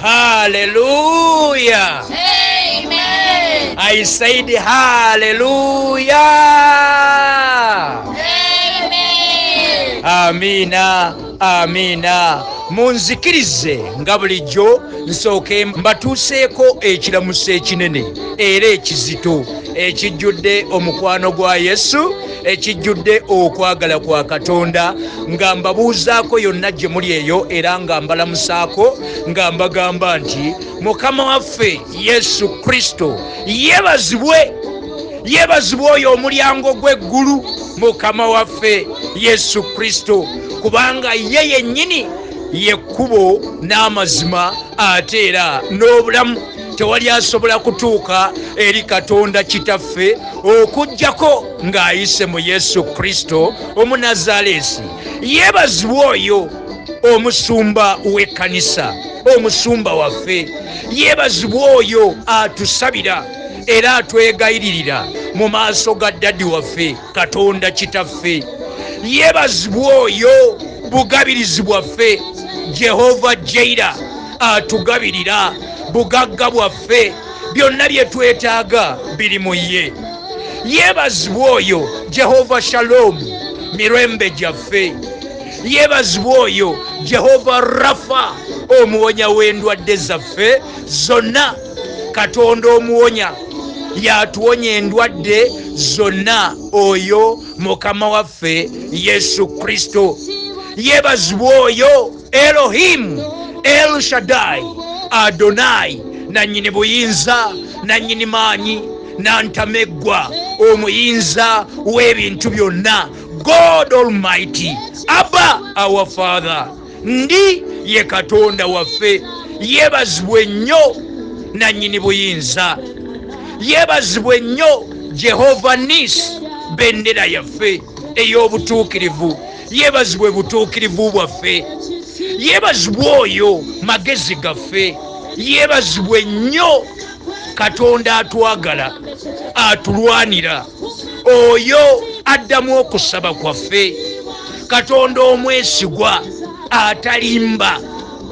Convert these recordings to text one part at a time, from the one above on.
Hallelujah. Amen. I said hallelujah. Amen. Amina, amina. Munzikirize nga bulijjo nsooke mbatuuseeko ekiramuso ekinene era ekizito ekijjudde omukwano gwa Yesu ekijjudde okwagala kwa katonda nga mbabuuzaako yonna gye muli eyo era nga mbalamusaako nga mbagamba nti mukama waffe yesu kristo yebazibwe yebazibwe oyo omulyango gw'eggulu mukama waffe yesu kristo kubanga ye yennyini yekkubo n'amazima ate era n'obulamu tewali asobola kutuuka eri katonda kitaffe okujjako ng'ayise mu yesu kristo omunazaleesi yeebazibwa oyo omusumba w'ekkanisa omusumba waffe yeebazibwa oyo atusabira era atwegayiririra mu maaso ga ddadi waffe katonda kitaffe yeebazibwa oyo bugabirizi bwaffe jehova jaira atugabirira bugagga bwaffe byonna bye twetaaga biri mu ye yeebazibwa oyo jehova shaloomu mirembe gyaffe yeebazibwa oyo jehova rafa omuwonya w'endwadde zaffe zonna katonda omuwonya yatuwonya endwadde zonna oyo mukama waffe yesu kristo yeebazibwa oyo elohimu el shadai adonai nannyini buyinza nannyini maanyi nantameggwa omuyinza w'ebintu byonna god almighty abba our father ndi ye katonda waffe yebazibwe nnyo nannyini buyinza yebazibwe nnyo jehova nis bendera yaffe ey'obutuukirivu yeebazibwe butuukirivu bwaffe yeebazibwe oyo magezi gaffe yeebazibwe nnyo katonda atwagala atulwanira oyo addamu okusaba kwaffe katonda omwesigwa atalimba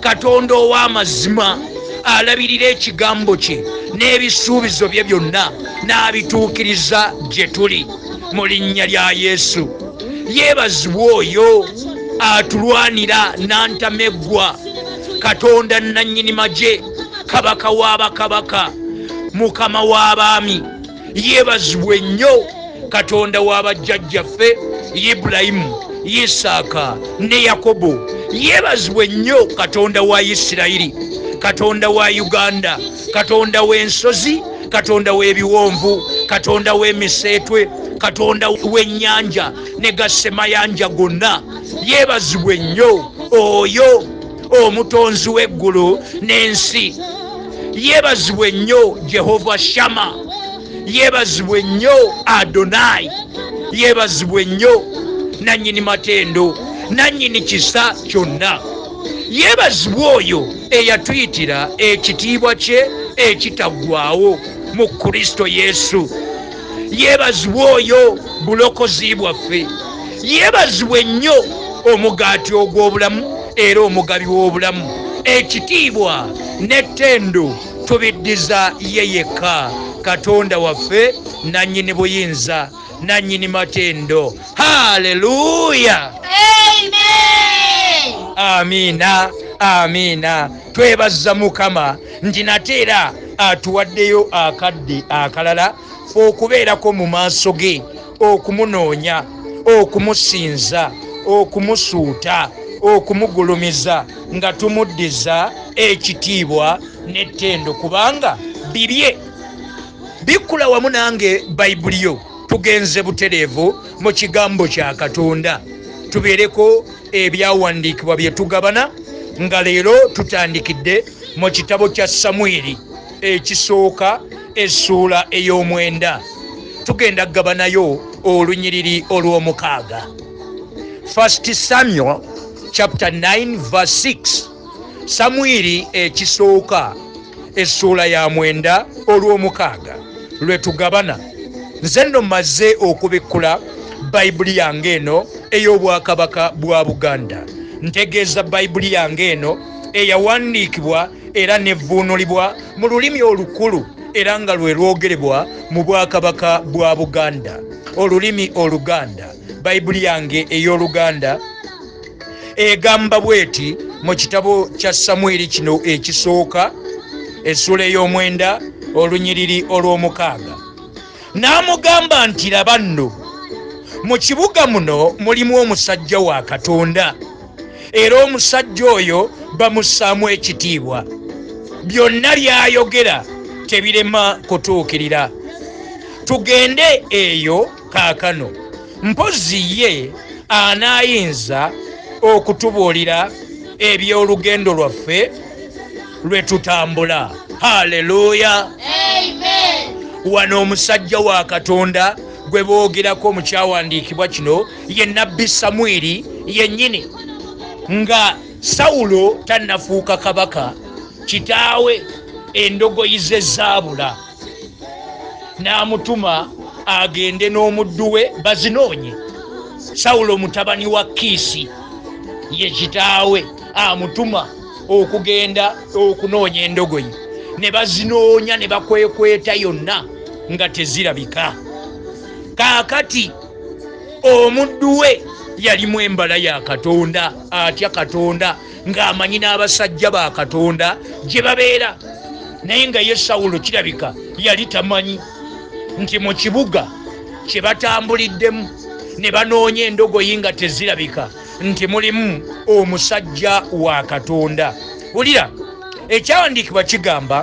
katonda ow'amazima alabirira ekigambo kye n'ebisuubizo bye byonna n'abituukiriza gye tuli mu linnya lya yesu yeebazibwa oyo atulwanira n'antameggwa katonda nnannyini magye kabaka w'abakabaka mukama w'abaami yebazibwe nnyo katonda wa bajjajjaffe ibulayimu isaaka ne yakobo yebazibwe nnyo katonda wa isirayiri katonda wa uganda katonda w'ensozi katonda w'ebiwonvu katonda w'emiseetwe katonda w'ennyanja ne gasemayanja gonna yebazibwe nnyo oyo omutonzi w'eggulu n'ensi yeebazibwe nnyo jehova shama yeebazibwe nnyo adonayi yeebazibwe nnyo nannyini matendo nannyini kisa kyonna yeebazibwe oyo eyatuyitira ekitiibwa kye ekitaggwawo mu kristo yesu yebazibwe oyo bulokozi bwaffe yebazibwe nnyo omugaati ogw'obulamu era omugabi w'obulamu ekitiibwa n'ettendo tubiddiza ye yekka katonda waffe nannyini buyinza nannyini matendo haleluya amiina amiina twebazza mukama nti nate era atuwaddeyo akadde akalala fe okubeerako mu maaso ge okumunoonya okumusinza okumusuuta okumugulumiza nga tumuddiza ekitiibwa n'ettendo kubanga bibye bikkula wamu nange bayibuli yo tugenze butereevu mu kigambo kya katonda tubeereko Ebyawandiikibwa bye tugabana nga leero tutandikidde mu kitabo kya Samwiri ekisooka essuula ey'omwenda. Tugenda kugabanayo olunyiriri olw'omukaaga, First Samuel chapter 9 verse 6. samwiri ekisooka essuula ya mwenda olw'omukaaga lwe tugabana nze nno mmaze okubikkula bayibuli yange eno ey'obwakabaka bwa buganda ntegeeza bayibuli yange eno eyawandiikibwa era nevvuunulibwa mu lulimi olukulu era nga lwe lwogerebwa mu bwakabaka bwa buganda olulimi oluganda bayibuli yange ey'oluganda egamba bweti mu kitabo kya samwiri kino ekisooka essuula ey'omwenda olunyiriri olw'omukaaga n'amugamba nti laba nno mu kibuga muno mulimu omusajja wa katonda era omusajja oyo bamussaamu ekitiibwa byonna by'ayogera tebirema kutuukirira tugende eyo kaakano mpozzi ye anaayinza okutubuulira eby'olugendo lwaffe lwe tutambula haleluya wano omusajja wa katonda gwe boogerako mu kyawandiikibwa kino ye nabbi samwiri yennyini nga sawulo tannafuuka kabaka kitaawe endogoyi ze zaabula n'amutuma agende n'omuddu we bazinoonye sawulo mutabani wa kiisi ye kitaawe amutuma okugenda okunoonya endogoyi ne bazinoonya ne bakwekweta yonna nga tezirabika kaakati omuddu we yalimu embala ya katonda atya katonda ng'amanyi n'abasajja ba katonda gye babeera naye nga ye sawulo kirabika yali tamanyi nti mu kibuga kye batambuliddemu ne banoonya endogoyi nga tezirabika nti mulimu omusajja wa katonda wulira ekyawandiikibwa kigamba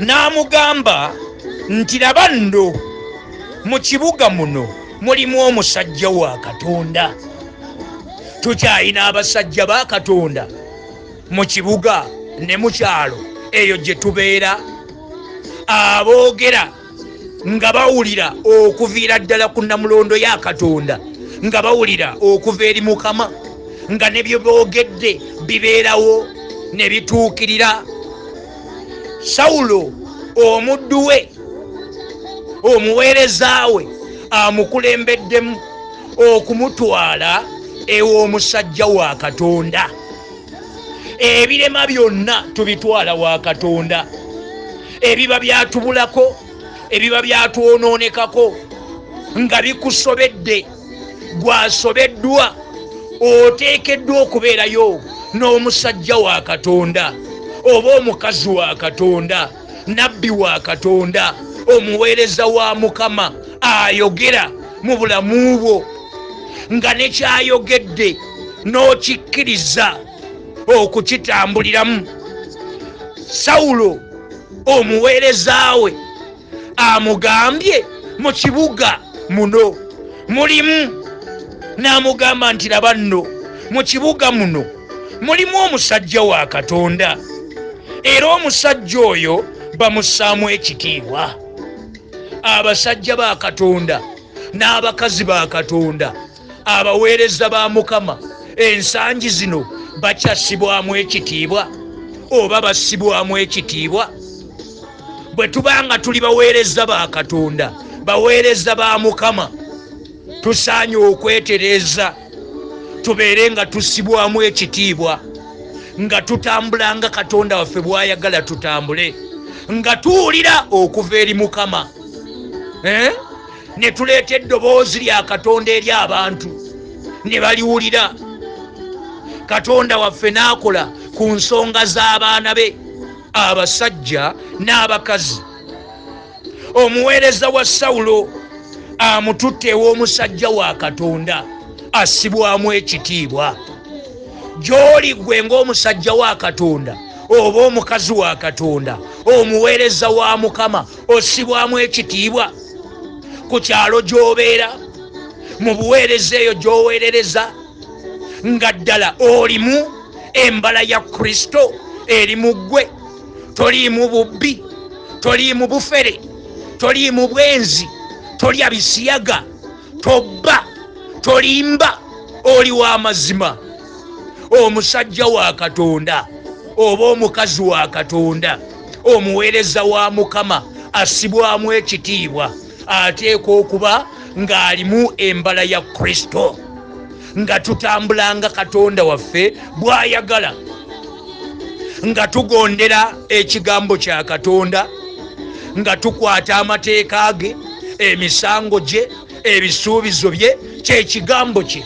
n'amugamba nti laba nno mu kibuga muno mulimu omusajja wa katonda tukyalina abasajja ba katonda mu kibuga ne mu kyalo eyo gye tubeera aboogera nga bawulira okuviira ddala ku namulondo ya katonda nga bawulira okuva eri mukama nga ne bye boogedde bibeerawo ne bituukirira sawulo omuddu we omuweereza we amukulembeddemu okumutwala ew'omusajja wa katonda ebirema byonna tubitwala wa katonda ebiba byatubulako ebiba byatwonoonekako nga bikusobedde gwasobeddwa oteekeddwa okubeerayo n'omusajja wa katonda oba omukazi wa katonda nabbi wa katonda omuweereza wa mukama ayogera mu bulamu bwo nga nekyayogedde n'okikkiriza okukitambuliramu sawulo omuweereza we amugambye mu kibuga muno mulimu n'amugamba nti laba nno mu kibuga muno mulimu omusajja wa katonda era omusajja oyo bamussaamu ekitiibwa abasajja ba katonda n'abakazi ba katonda abaweereza ba mukama ensangi zino bakyasibwamu ekitiibwa oba basibwamu ekitiibwa bwe tuba nga tuli baweereza ba katonda baweereza ba mukama tusaanye okwetereeza tubeere nga tussibwamu ekitiibwa nga tutambula nga katonda waffe bw'ayagala tutambule nga tuwulira okuva eri mukama eh? ne tuleeta eddoboozi lya katonda eri abantu ne baliwulira katonda waffe n'akola ku nsonga z'abaana be abasajja n'abakazi omuweereza wa sawulo amututte ew'omusajja wa katonda assibwamu ekitiibwa gy'oli gwe ng'omusajja wa katonda oba omukazi wa katonda omuweereza wa mukama ossibwamu ekitiibwa ku kyalo gy'obeera mu buweereza eyo gy'oweerereza nga ddala olimu embala ya kristo eri mu ggwe toliimu bubbi toliimu bufere toliimu bwenzi tolya bisiyaga tobba tolimba oli wa mazima omusajja wa katonda oba omukazi wa katonda omuweereza wa mukama asibwamu ekitiibwa ateekwa okuba ng'alimu embala ya kristo nga tutambula nga katonda waffe bw'ayagala nga tugondera ekigambo kya katonda nga tukwata amateeka ge emisango gye ebisuubizo bye kyekigambo kye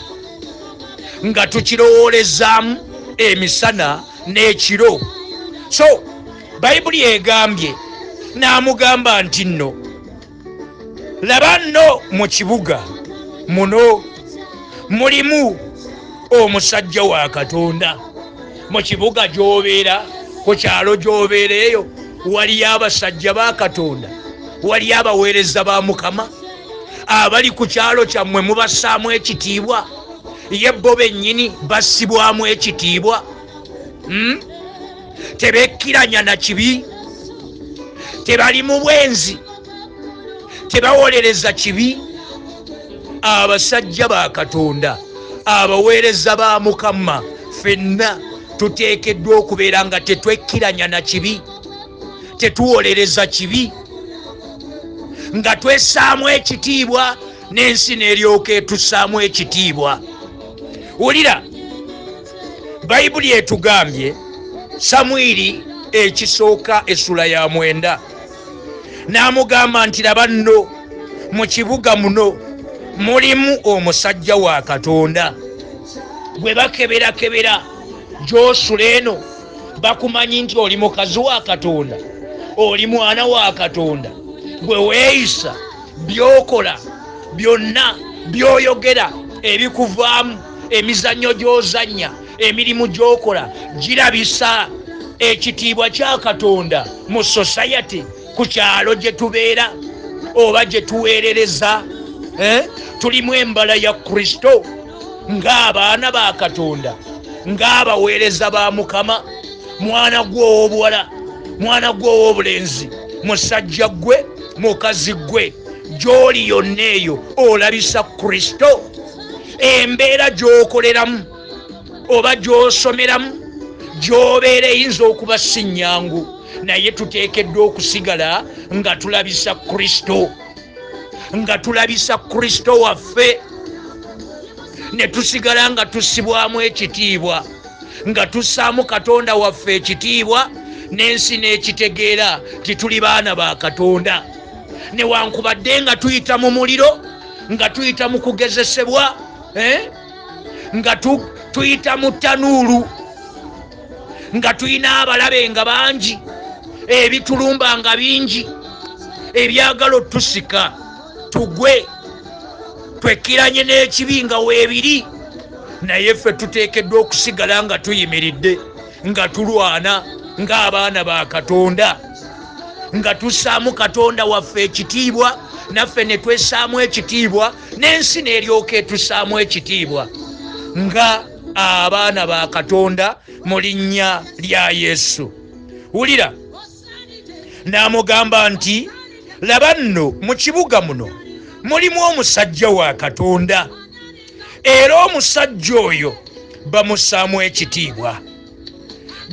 nga tukirowoolezaamu emisana n'ekiro so bayibuli egambye n'amugamba nti nno laba nno mu kibuga muno mulimu omusajja wa katonda mu kibuga gy'obeera ku kyalo gy'obeera eyo waliyo abasajja ba katonda waliyo abaweereza ba mukama abali ku kyalo kyammwe mubassaamu ekitiibwa ye bo bennyini bassibwamu ekitiibwa hmm? tebekkiranya na kibi tebali mu bwenzi tebawolereza kibi abasajja ba katonda abaweereza ba mukama fenna tuteekeddwa okubeera nga tetwekkiranya na kibi tetuwolereza kibi nga twesaamu ekitiibwa n'ensi n'eryoka etusaamu ekitiibwa wulira bayibuli etugambye samwiri ekisooka essula ya mwenda n'amugamba nti laba nno mu kibuga muno mulimu omusajja wa katonda gwe bakeberakebera gyosula eno bakumanyi nti oli mukazi wa katonda oli mwana wa katonda gwe weeyisa by'okola byonna by'oyogera ebikuvaamu emizannyo gy'ozannya emirimu gy'okola girabisa ekitiibwa kya katonda mu sosayati ku kyalo gye tubeera oba gye tuweerereza eh? tulimu embala ya kristo ng'abaana ba katonda ng'abaweereza ba mukama mwana gwe ow'obuwala mwana gwe ow'obulenzi musajja gwe mukazi gwe gy'oli yonna eyo olabisa kristo embeera gy'okoleramu oba gy'osomeramu gy'obeera eyinza okuba si nnyangu naye tuteekeddwa okusigala nga tulabisa kristo nga tulabisa kristo waffe ne tusigala nga tusibwamu ekitiibwa nga tussaamu katonda waffe ekitiibwa n'ensi n'ekitegeera nti tuli baana ba katonda newankubadde nga tuyita mu muliro nga tuyita mu kugezesebwa eh? nga tuyita mu tanuulu nga tulina abalabe nga bangi ebitulumba nga bingi ebyagala otusika tugwe twekiranye n'ekibi nga weebiri naye ffe tuteekeddwa okusigala nga tuyimiridde nga tulwana ng'abaana ba katonda nga tussaamu katonda waffe ekitiibwa naffe ne twessaamu ekitiibwa n'ensi n'eryoka etussaamu ekitiibwa nga abaana ba katonda mu linnya lya yesu wulira n'amugamba nti laba nno mu kibuga muno mulimu omusajja wa katonda era omusajja oyo bamusaamu ekitiibwa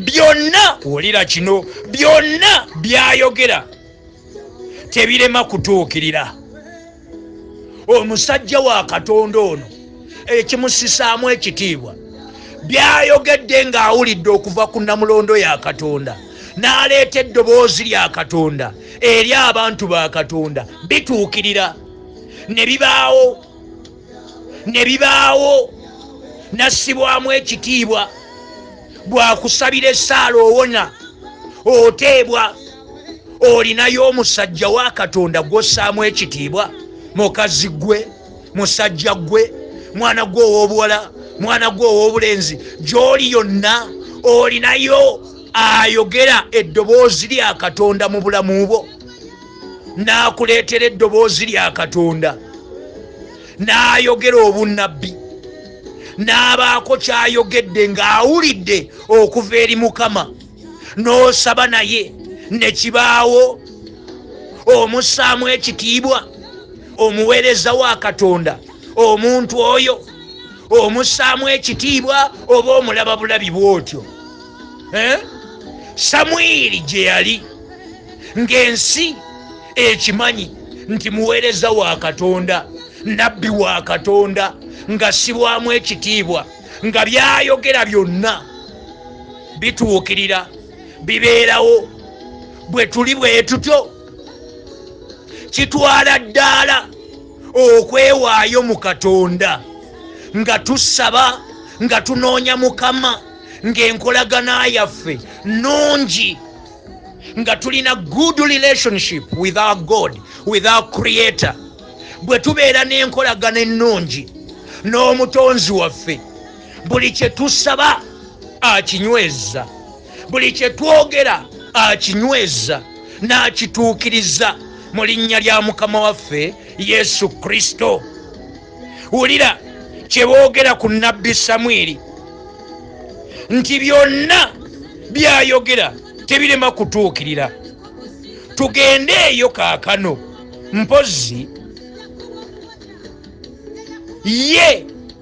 byonna wulira kino byonna byayogera tebirema kutuukirira omusajja wa katonda ono ekimusisaamu ekitiibwa byayogedde ng'awulidde okuva ku namulondo ya katonda n'aleeta eddoboozi lya katonda eri abantu ba katonda bituukirira ne bibaawo ne bibaawo nassibwamu ekitiibwa bwakusabira essaala owona oteebwa olinayo omusajja wa katonda gw'ossaamu ekitiibwa mukazi gwe musajja gwe mwana gwe ow'obuwala mwana gwe ow'obulenzi gy'oli yonna olinayo ayogera eddoboozi lya katonda mu bulamu bwo n'akuleetera eddoboozi lya katonda n'ayogera obunnabbi n'abaako ky'ayogedde ng'awulidde okuva eri mukama n'osaba naye ne kibaawo omussaamu ekitiibwa omuweereza wa katonda omuntu oyo omussaamu ekitiibwa oba omulaba bulabi bw'otyo eh? samwiri gye yali ng'ensi ekimanyi nti muweereza wa katonda nabbi wa katonda nga sibwamu ekitiibwa nga byayogera byonna bituukirira bibeerawo bwe tuli bwe tutyo kitwala ddaala okwewaayo mu katonda nga tusaba nga tunoonya mukama ng'enkolagana yaffe nnungi nga tulina good relationship with our god with our creator bwe tubeera n'enkolagana ennungi n'omutonzi waffe buli kye tusaba akinyweza buli kye twogera akinyweza n'akituukiriza mu linnya lya mukama waffe yesu kristo wulira kye boogera ku nabbi samwiri nti byonna byayogera tebirema kutuukirira tugende eyo kaakano mpozi ye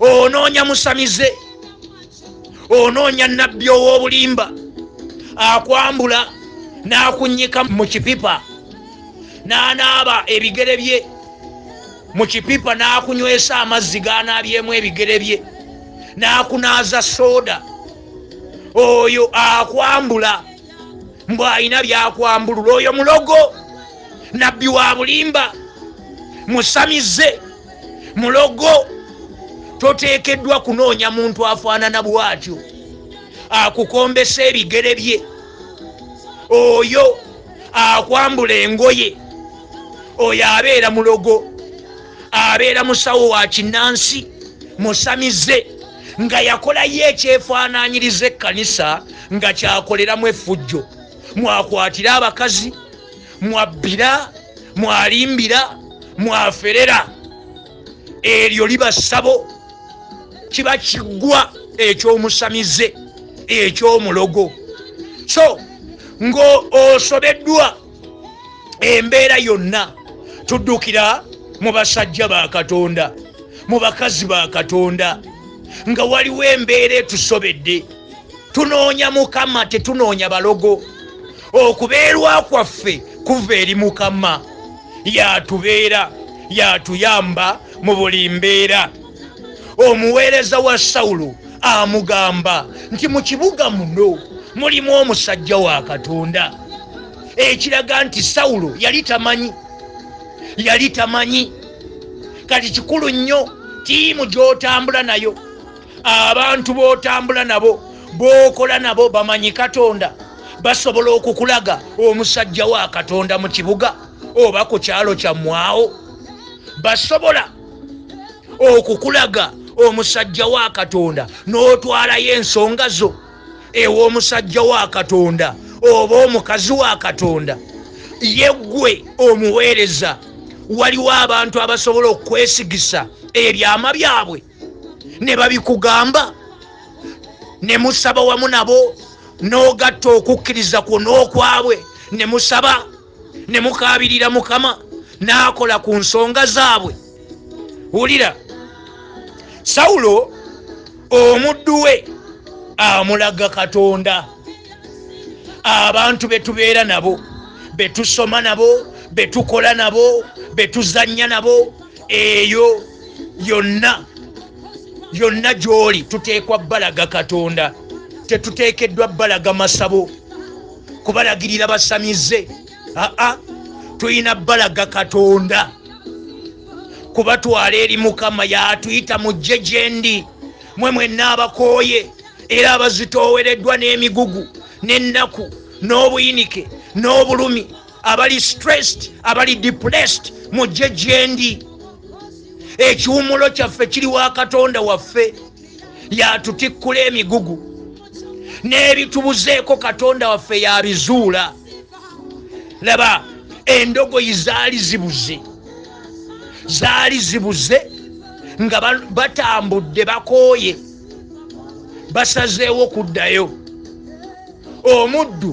onoonya musamize onoonya nabbi ow'obulimba akwambula n'akunnyika mu kipipa n'anaaba ebigere bye mu kipipa n'akunywesa amazzi g'anaabyemu ebigere bye n'akunaaza sooda oyo akwambula mbu alina byakwambulula oyo mulogo nabbi wa bulimba musamize mulogo toteekeddwa kunoonya muntu afaanana bwatyo akukombesa ebigere bye oyo akwambula engoye oyo abeera mulogo abeera musawo wa kinnansi musamize nga yakolayo ekyefaananyiriza ekkanisa nga kyakoleramu effujjo mwakwatire abakazi mwabbira mwalimbira mwaferera eryo liba ssabo kiba kiggwa ekyomusamize ekyomulogo so ng'osobeddwa embeera yonna tuddukira mu basajja ba katonda mu bakazi ba katonda nga waliwo embeera etusobedde tunoonya mukama tetunoonya balogo okubeerwa kwaffe kuva eri mukama yatubeera yatuyamba mu buli mbeera omuweereza wa sawulo amugamba nti mu kibuga muno mulimu omusajja wa katonda ekiraga nti sawulo yali tamanyi yali tamanyi kati kikulu nnyo tiimu gyotambula nayo abantu b'otambula nabo b'okola nabo bamanyi katonda basobola okukulaga omusajja wa katonda mu kibuga oba ku kyalo kyammwawo basobola okukulaga omusajja wa katonda n'otwalayo ensonga zo ew'omusajja wa katonda oba omukazi wa katonda yeggwe omuweereza waliwo abantu abasobola okukwesigisa ebyama byabwe ne babikugamba ne musaba wamu nabo n'ogatta okukkiriza kwo n'okwabwe ne musaba ne mukaabirira mukama n'akola ku nsonga zaabwe wulira sawulo omuddu we amulaga katonda abantu betubeera nabo betusoma nabo betukola nabo betuzanya nabo eyo yonna yonna gy'oli tuteekwa balaga katonda tetuteekeddwa balaga masabo kubalagirira basamize aa tulina balaga katonda kubatwala eri mukama yatuyita mujje gyendi mwe mwenna abakooye era abazitoowereddwa n'emigugu n'ennaku n'obuyinike n'obulumi abali stressed abali depressed mujje gyendi ekiwumulo kyaffe kiri wa katonda waffe yatutikkula emigugu n'ebitubuzeeko katonda waffe yabizuula laba endogoyi zaali zibuze zaali zibuze nga batambudde bakooye basazeewo kuddayo omuddu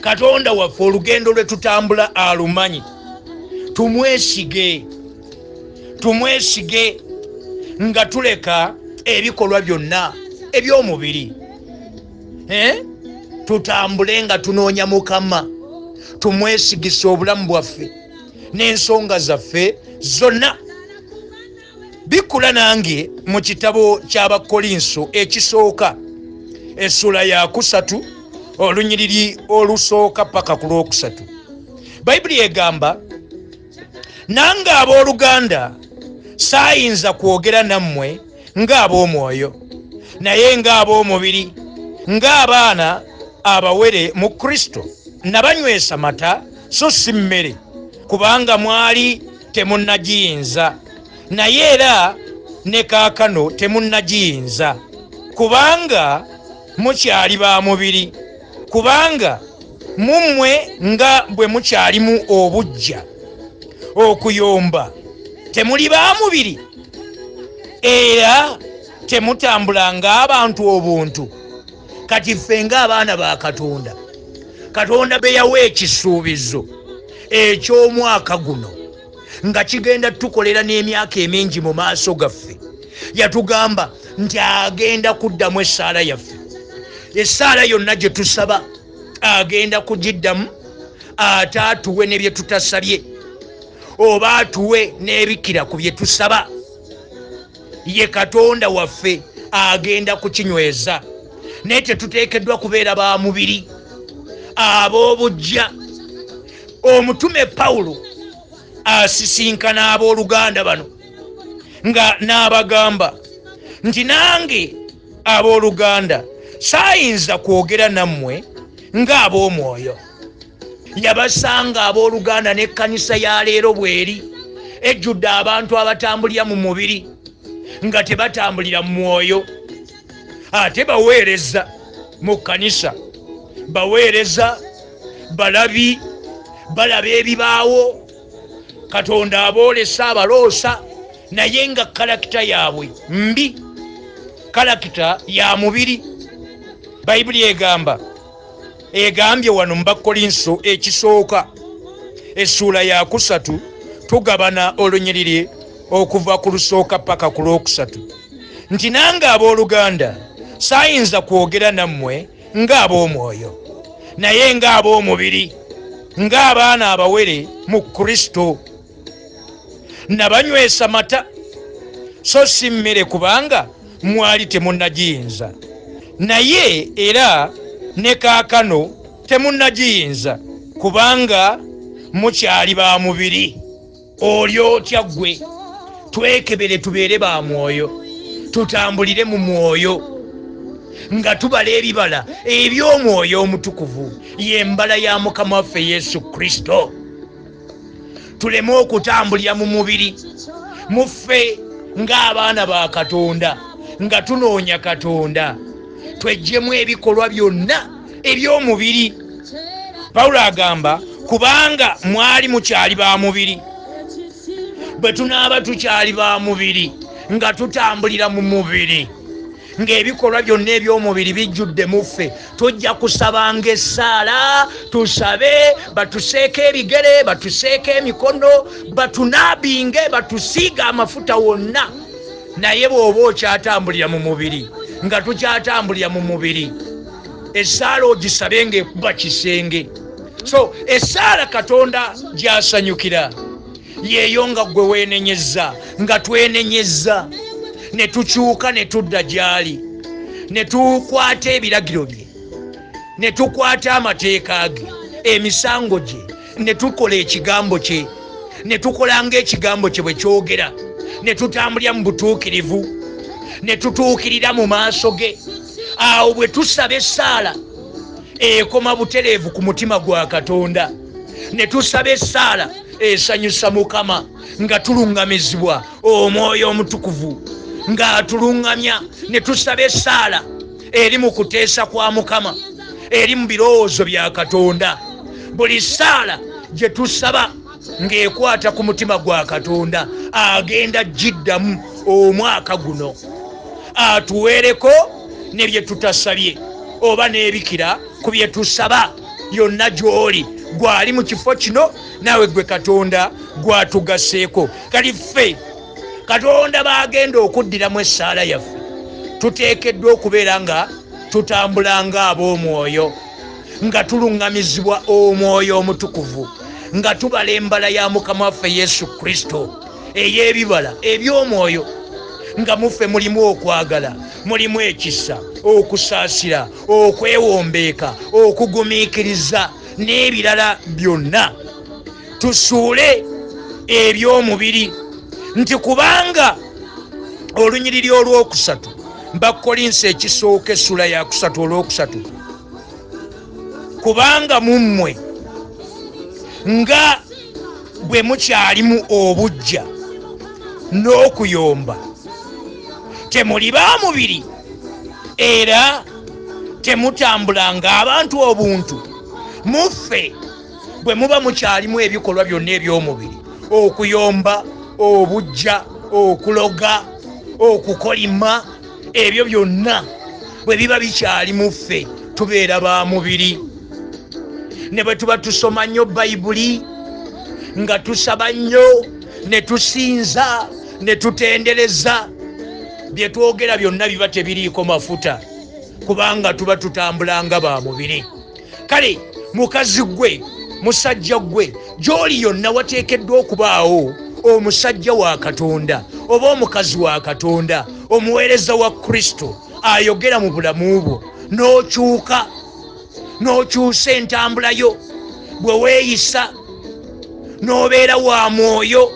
katonda waffe olugendo lwe tutambula alumanyi tumwesige tumwesige nga tuleka ebikolwa byonna eby'omubiri eh? tutambule nga tunoonya mukama tumwesigise obulamu bwaffe n'ensonga zaffe zonna bikula nange mu kitabo ky'abakkolinso ekisooka essula yakusatu olunyiriri olusooka paka ku lwokusatu bayibuli egamba nange ab'oluganda saayinza kwogera nammwe ng'ab'omwoyo naye ng'ab'omubiri ng'abaana abawere mu kristo nabanywesa mata so si mmere kubanga mwali temunnagiyinza naye era ne kaakano temunnagiyinza kubanga mukyali ba mubiri kubanga mu mmwe nga bwe mukyalimu obujja okuyomba temuli ba mubiri era temutambula ng'abantu obuntu kati ffe ng'abaana ba katonda katonda be yawa ekisuubizo eky'omwaka guno nga kigenda tukolera n'emyaka emingi mu maaso gaffe yatugamba nti agenda kuddamu essaala yaffe essaala yonna gye tusaba agenda kugiddamu ate atuwe ne bye tutasabye oba atuwe n'ebikira ku bye tusaba ye katonda waffe agenda kukinyweza naye tetuteekeddwa kubeera ba mubiri ab'obujja omutume pawulo asisinkana ab'oluganda bano nga n'abagamba nti nange ab'oluganda saayinza kwogera nammwe ng'ab'omwoyo yabasanga abooluganda n'ekkanisa ya leero bweri ejjudde abantu abatambulira mu mubiri nga tebatambulira mu mwoyo ate baweereza mu kkanisa baweereza balabi balaba ebibaawo katonda aboolesa abaloosa naye nga kalakita yaabwe mbi kalakita ya mubiri bayibuli egamba egambye wano mu bakkolinso ekisooka essuula yakusatu tugabana olunyiriri okuva ku lusooka paka ku lwokusatu nti nange ab'oluganda saayinza kwogera nammwe ng'ab'omwoyo naye ng'ab'omubiri ng'abaana abawere mu kristo nabanywesa mata so si mmere kubanga mwali temunagiyinza naye era ne kaakano temunagiyinza kubanga mukyali ba mubiri oli otya ggwe twekebere tubeere ba mwoyo tutambulire mu mwoyo nga tubala ebibala eby'omwoyo omutukuvu yembala ya mukama waffe yesu kristo tuleme okutambulira mu mubiri muffe ng'abaana ba katonda nga tunoonya katonda twejjemu ebikolwa byonna eby'omubiri pawulo agamba kubanga mwali mukyali ba mubiri bwe tunaaba tukyali ba mubiri nga tutambulira mu mubiri ng'ebikolwa byonna eby'omubiri bijjudde muffe tujja kusabanga essaala tusabe batuseeko ebigere batuseeko emikono batunaabinge batusiiga amafuta wonna naye bw'oba okyatambulira mu mubiri nga tukyatambulira mu mubiri essaala ogisabe ngaekuba kisenge so essaala katonda gyasanyukira yeeyo nga ggwe weenenyezza nga twenenyezza ne tukyuka ne tudda gy'ali ne tukwata ebiragiro bye ne tukwata amateeka ge emisango gye ne tukola ekigambo kye ne tukola ng'ekigambo kye bwe kyogera ne tutambulira mu butuukirivu ne tutuukirira mu maaso ge awo bwe tusaba essaala ekoma butereevu ku mutima gwa katonda ne tusaba essaala esanyusa mukama nga tulungamizibwa omwoyo omutukuvu ng'atulungamya ne tusaba essaala eri mu kuteesa kwa mukama eri mu birowoozo bya katonda buli ssaala gye tusaba ng'ekwata ku mutima gwa katonda agenda giddamu omwaka guno atuweereko ne bye tutasabye oba n'ebikira ku bye tusaba yonna gy'oli gwali mu kifo kino naawe gwe katonda gwatugaseeko kati ffe katonda baagenda okuddiramu essaala yaffe tuteekeddwa okubeera nga tutambula nga ab'omwoyo nga tuluŋŋamizibwa omwoyo omutukuvu nga tubala embala ya mukama waffe yesu kristo ey'ebibala eby'omwoyo nga muffe mulimu okwagala mulimu ekisa okusaasira okwewombeeka okugumiikiriza n'ebirala byonna tusuule eby'omubiri nti kubanga olunyiriri olwokusatu bakolinsi ekisooka essula yakusatu olwokusatu kubanga mu mmwe nga bwe mukyalimu obujja n'okuyomba temuli ba mubiri era temutambula ng'abantu obuntu muffe bwe muba mukyalimu ebikolwa byonna eby'omubiri okuyomba obujja okuloga okukolima ebyo byonna bwe biba bikyali mu ffe tubeera ba mubiri ne bwe tuba tusoma nnyo bayibuli nga tusaba nnyo ne tusinza ne tutendereza bye twogera byonna biba tebiriiko mafuta kubanga tuba tutambula nga ba mubiri kale mukazi gwe musajja gwe gy'oli yonna wateekeddwa okubaawo omusajja wa katonda oba omukazi wa katonda omuweereza wa kristo ayogera mu bulamu bwo n'okyuka n'okyusa entambula yo bwe weeyisa n'obeera wa mwoyo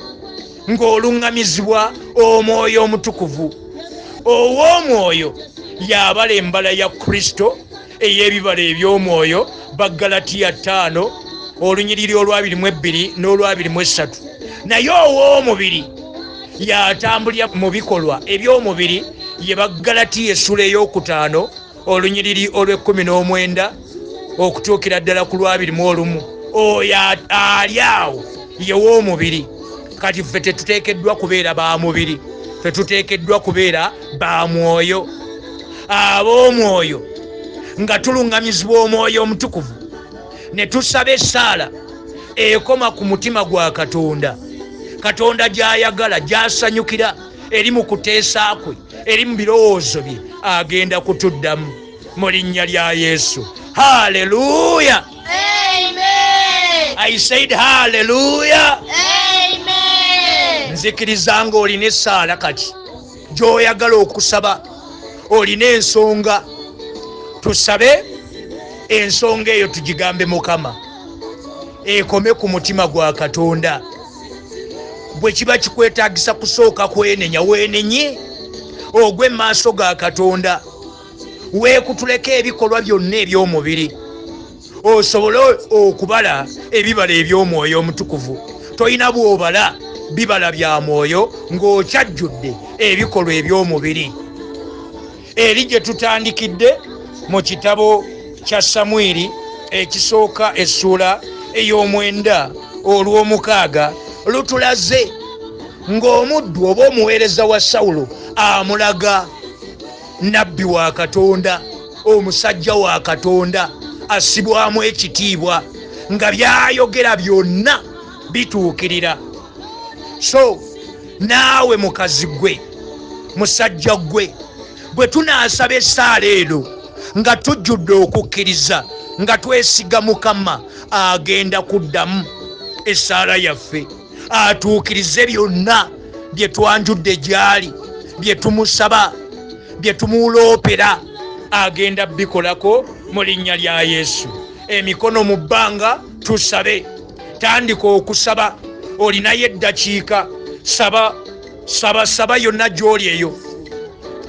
ng'oluŋŋamizibwa omwoyo omutukuvu ow'omwoyo yabala embala ya kristo ey'ebibala eby'omwoyo baggalatiya ttaano olunyiriri olwabiri mu ebbiri n'olwabiri mu essatu naye ow'omubiri yatambulira mu bikolwa eby'omubiri ye baggalatiya essula ey'okutaano olunyiriri olw'ekkumi n'omwenda okutuukira ddala ku lwabiri mu olumu oyo ali awo yew'omubiri kati ffe tetuteekeddwa kubeera ba mubiri fetuteekeddwa kubeera ba mwoyo ab'omwoyo nga tuluŋŋamizibwa omwoyo omutukuvu ne tusaba essaala ekoma ku mutima gwa katonda katonda gy'ayagala gy'asanyukira eri mu kuteesa kwe eri mu birowoozo bye agenda kutuddamu mu linnya lya yesu haleluya i said haleluya nzikiriza ng'olina essaala kati gyoyagala okusaba olina ensonga tusabe ensonga eyo tugigambe mukama ekome ku mutima gwa katonda bwe kiba kikwetagisa kusooka kwenenya wenenye ogwe maaso ga katonda weekutuleko ebikolwa byonna eby'omubiri osobole okubala ebibala eby'omwoyo omutukuvu tolina bw'obala bibala bya mwoyo ng'okyajjudde ebikolwa eby'omubiri eri gye tutandikidde mu kitabo kya samwiri ekisooka essuula ey'omwenda olw'omukaaga lutulaze ng'omuddu oba omuweereza wa sawulo amulaga nabbi wa katonda omusajja wa katonda asibwamu ekitiibwa nga byayogera byonna bituukirira so naawe mukazi gwe musajja gwe bwe tunaasaba esaala eno nga tujjudde okukkiriza nga twesiga mukama agenda kuddamu esaala yaffe atuukirize byonna bye twanjudde gy'ali bye tumusaba bye tumuloopera agenda bikolako mu linnya lya yesu emikono mu bbanga tusabe tandika okusaba olinayo eddakiika saba saba saba yonna gy'oli eyo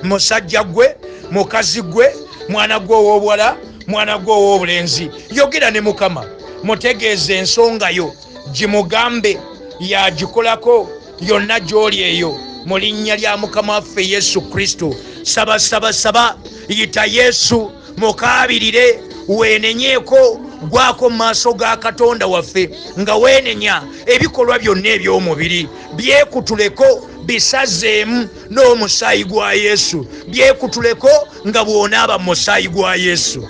musajja gwe mukazi gwe mwana gwe ow'obuwala mwana gwe ow'obulenzi yogera ne mukama mutegeeza ensonga yo gimugambe yagikolako yonna gy'oli eyo mu linnya lya mukama waffe yesu kristo saba saba saba yita yesu mukaabirire weenenyeeko gwako mu maaso ga katonda waffe nga weenenya ebikolwa byonna eby'omubiri byekutuleko bisazeemu n'omusaayi gwa yesu byekutuleko nga bw'onaaba mu musaayi gwa yesu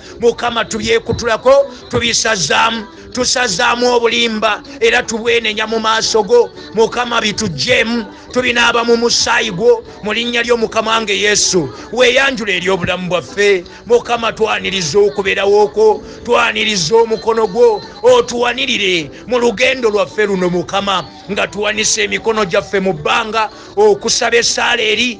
mukama tubyekutulako tubisazaamu tusazaamu obulimba era tubwenenya mu maaso go mukama bitugjeemu tubinaaba mu musaayi gwo mu linnya ly'omukama nge yesu weeyanjula eri obulamu bwaffe mukama twaniriza okubeerawo kwo twaniriza omukono gwo otuwanirire mu lugendo lwaffe luno mukama nga tuwanise emikono gyaffe mu bbanga okusaba esaala eri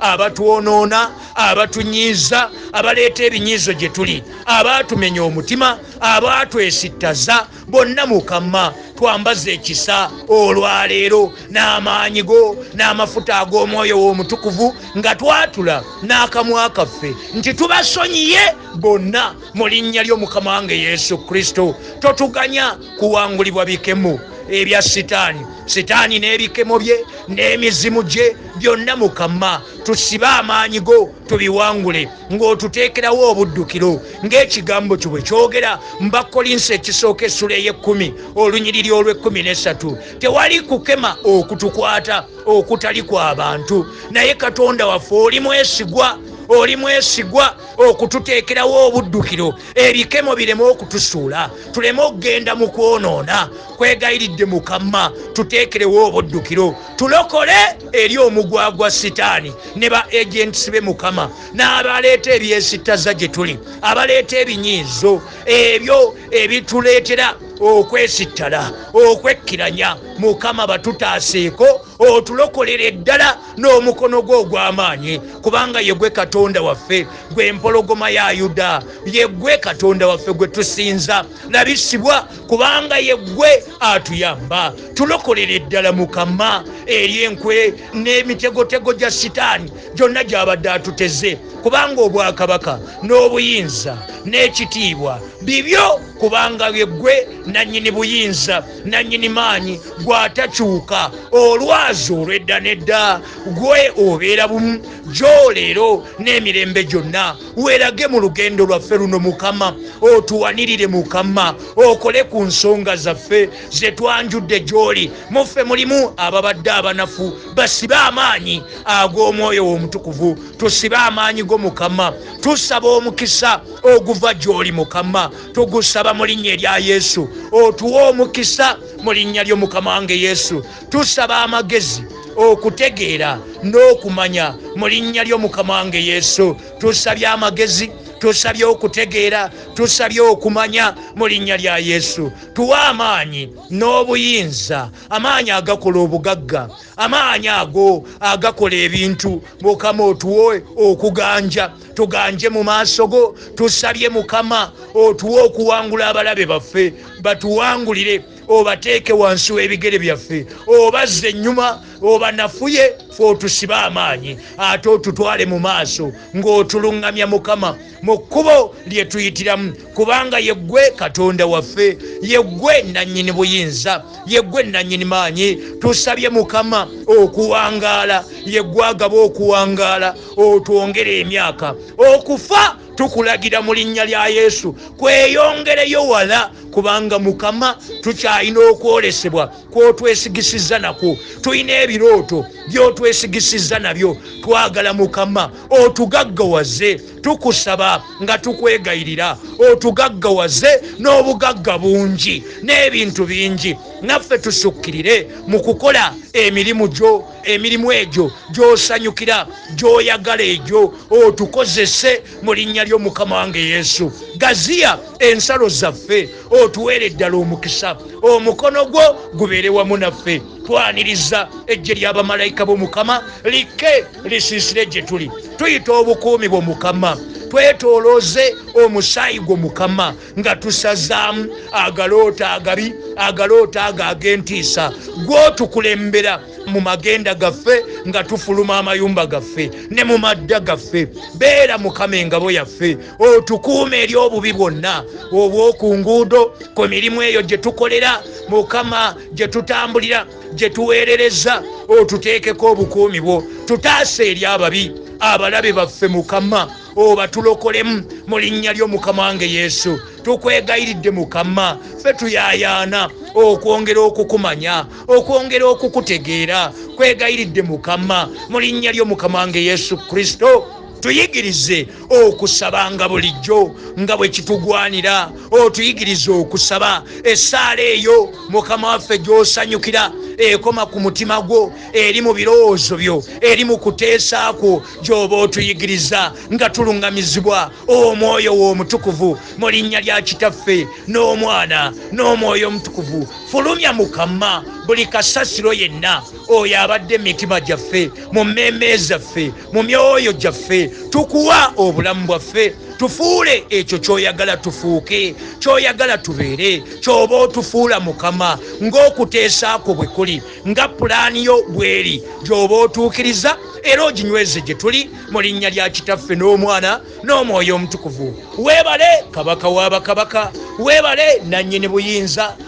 abatwonoona abatunyiiza abaleeta ebinyiizo gye tuli abaatumenya omutima abaatwesittaza bonna mukama twambaze ekisa olwaleero n'amaanyi go n'amafuta ag'omwoyo w'omutukuvu nga twatula n'akamwa kaffe nti tubasonyiye bonna mu linnya ly'omukama wange yesu kristo totuganya kuwangulibwa bikemo ebya sitaani sitaani n'ebikemo bye n'emizimu gye byonna mukama tusibe amaanyi go tubiwangule ng'otuteekerawo obuddukiro ng'ekigambo kyo bwe kyogera mubakkolinsi ekisooka essula ey'ekkumi olunyiriri olw'ekkumi n'essatu tewali kukema okutukwata okutali kwa bantu naye katonda waffe oli mwesigwa oli mwesigwa okututeekerawo obuddukiro ebikemo bireme okutusuula tuleme okugenda mu kwonoona kwegayiridde mukama tuteekerewo obuddukiro tulokole eri omugwagwa sitaani ne ba agents be mukama n'abaleeta ebyesittaza gye tuli abaleeta ebinyiizo ebyo ebituleetera okwesittala okwekkiranya mukama batutaaseeko otulokolere ddala n'omukono gwe ogw'amaanyi kubanga ye gwe katonda waffe gwe empologoma ya yuda ye gwe katonda waffe gwe tusinza nabisibwa kubanga ye gwe atuyamba tulokolera eddala mukama eri enkwe n'emitegotego gya sitaani gyonna gy'abadde atuteze kubanga obwakabaka n'obuyinza n'ekitiibwa bibyo kubanga ye gwe nannyini buyinza nannyini maanyi gw'atakyuka olwazi olw'edda n'edda gwe obeera bumu gy'oleero n'emirembe gyonna weerage mu lugendo lwaffe luno mukama otuwanirire mukama okole ku nsonga zaffe ze twanjudde gy'oli muffe mulimu ababadde abanafu basibe amaanyi ag'omwoyo w'omutukuvu tusibe amaanyi go mukama tusaba omukisa oguva gy'oli mukama tugusaba mu linnya erya yesu otuwa omukisa mu linnya ly'omukama wange yesu tusaba amagezi okutegeera n'okumanya mu linnya ly'omukama wange yesu tusabye amagezi tusabye okutegeera tusabye okumanya mu linnya lya yesu tuwa amaanyi n'obuyinza amaanyi agakola obugagga amaanyi ago agakola ebintu mukama otuwe okuganja tuganje mu maaso go tusabye mukama otuwe okuwangula abalabe baffe batuwangulire obateeke wansi w'ebigere byaffe obazze ennyuma obanafuye fe otusibe amaanyi ate otutwale mu maaso ng'otuluŋŋamya mukama mu kkubo lye tuyitiramu kubanga yeggwe katonda waffe yeggwe nannyini buyinza yeggwe nannyini maanyi tusabye mukama okuwangaala yeggwagaba okuwangaala otwongere emyaka okufa tukulagira mu linnya lya yesu kweyongereyo wala kubanga mukama tukyalina okwolesebwa kwotwesigisizza nakwo tulina ebirooto byotwesigisizza nabyo twagala mukama otugaggawaze tukusaba nga tukwegayirira otugaggawaze n'obugagga bungi n'ebintu bingi naffe tusukkirire mu kukola emirimu gyo emirimu egyo gyosanyukira gyoyagala egyo otukozese mu linnya ly'omukama wange yesu gaziya ensalo zaffe otuweere ddala omukisa omukono gwo gubeere wamu naffe twaniriza ejje lyabamalayika bomukama likke lisiisire gye tuli tuyita obukuumi bwo mukama twetolooze omusaayi gwo mukama nga tusazaamu agaloota agabi agaloota ago ag'entiisa gwotukulembera mu magenda gaffe nga tufuluma amayumba gaffe ne mu madda gaffe beera mukama engabo yaffe otukuuma eri obubi bwonna obw'oku nguudo ku mirimu eyo gye tukolera mukama gye tutambulira gye tuweerereza otuteekeko obukuumi bwo tutaasa eri ababi abalabe baffe mukama obatulokolemu mu linnya ly'omukama wange yesu tukwegayiridde mukama fe tuyayaana okwongera okukumanya okwongera okukutegeera kwegayiridde mukama mu linnya ly'omukama wange yesu kristo tuyigirize okusabanga bulijjo nga bwe kitugwanira otuyigirize okusaba essaala eyo mukama waffe gy'osanyukira ekoma ku mutima gwo eri mu birowoozo byo eri mu kuteesa kwo gy'oba otuyigiriza nga tuluŋŋamizibwa omwoyo w'omutukuvu mu linnya lya kitaffe n'omwana n'omwoyo omutukuvu fulumya mukama buli kasasiro yenna oyo abadde emitima gyaffe mu mmeeme zaffe mu myoyo gyaffe tukuwa obulamu bwaffe tufuule ekyo kyoyagala tufuuke kyoyagala tubeere kyoba otufuula mukama ng'okuteesa kwo bwe kuli nga pulaani yo bweri gyoba otuukiriza era oginyweze gye tuli mu linnya lya kitaffe n'omwana n'omwoyo omutukuvu weebale kabaka w'abakabaka weebale nannyini buyinza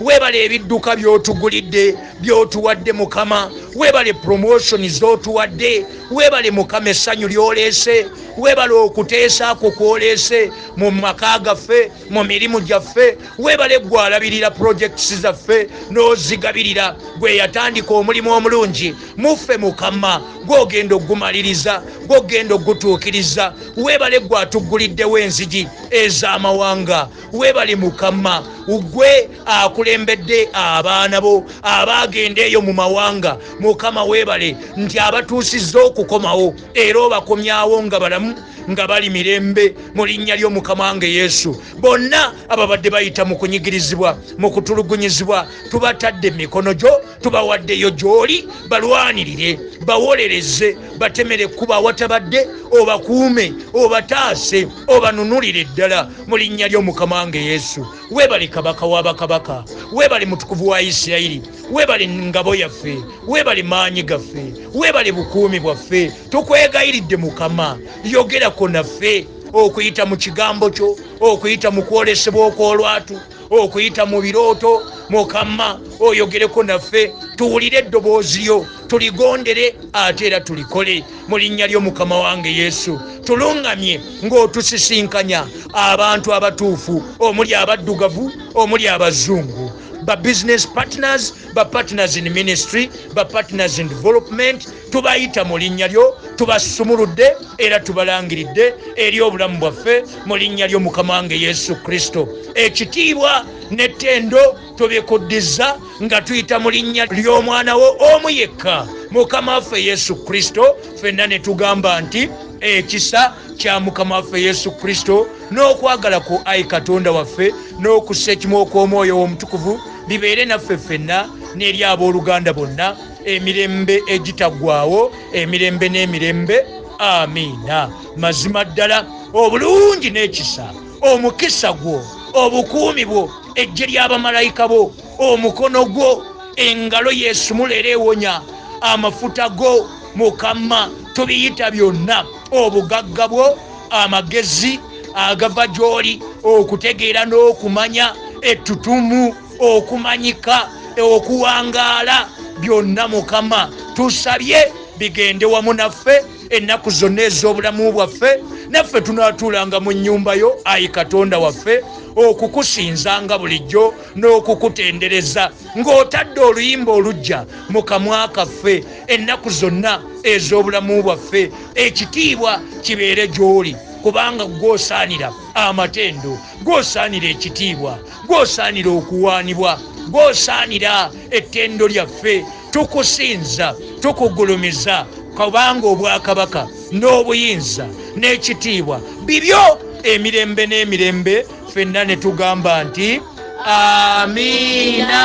webale ebidduka byotugulidde byotuwadde mukama webale promotion zotuwadde webale mukama essanyu lyoleese webale okuteesa kwo kwoleese mu maka gaffe mu mirimu gyaffe webale gwalabirira projects zaffe n'ozigabirira gwe yatandika omulimu omulungi muffe mukama gwogenda ogumaliriza gwogenda ogutuukiriza webale gwatugguliddewo enzigi ez'amawanga webale mukama ugwe akulembedde abaana bo abaagenda eyo mu mawanga mukama webale nti abatuusizza okukomawo era obakomyawo nga balamu nga bali mirembe mu linnya ly'omukama nge yesu bonna ababadde bayita mu kunyigirizibwa mu kutulugunyizibwa tubatadde mikono gyo tubawaddeyo gy'oli balwanirire bawolereze batemere ekkuba awatabadde obakuume obataase obanunulire ddala mu linnya ly'omukama wange yesu weebale kabaka wa bakabaka weebale mutukuvu wa isirayiri weebale ngabo yaffe weebale maanyi gaffe weebale bukuumi bwaffe tukwegayiridde mukama yogerako naffe okuyita mu kigambo kyo okuyita mu kwolesebwa okw'olwatu okuyita mu birooto mukama oyogereko naffe tuwulire eddoboozi lyo tuligondere ate era tulikole mu linnya ly'omukama wange yesu tulungamye ng'otusisinkanya abantu abatuufu omuli abaddugavu omuli abazungu ba business partners ba partners in ministry ba partners in development tubayita mu linnya lyo tubasumuludde era tubalangiridde eri obulamu bwaffe mu linnya lyo mukama wange yesu kristo ekitiibwa n'ettendo tubikuddizza nga tuyita mu linnya ly'omwana wo omu yekka mukama waffe yesu kristo fenna ne tugamba nti ekisa kya mukama waffe yesu kristo n'okwagala ku ayi katonda waffe n'okussa ekimu okw'omwoyo w'omutukuvu bibeere naffe ffenna n'eri ab'oluganda bonna emirembe egitagwawo emirembe n'emirembe amiina mazima ddala obulungi n'ekisa omukisa gwo obukuumi bwo ejje ly'abamalayika bo omukono gwo engalo yesumula era ewonya amafuta go mukama tubiyita byonna obugagga bwo amagezi agava gy'oli okutegeera n'okumanya ettutumu okumanyika okuwangaala byonna mukama tusabye bigende wamu naffe ennaku zonna ez'obulamu bwaffe naffe tunaatuulanga mu nnyumba yo ayi katonda waffe okukusinzanga bulijjo n'okukutendereza ng'otadde oluyimba olujja mu kamwa kaffe ennaku zonna ez'obulamu bwaffe ekitiibwa kibeere gy'oli kubanga gwosaanira amatendo gwosaanira ekitiibwa gwosaanira okuwaanibwa gwosaanira ettendo lyaffe tukusinza tukugulumiza kubanga obwakabaka n'obuyinza n'ekitiibwa bibyo emirembe n'emirembe fenna ne tugamba nti amiina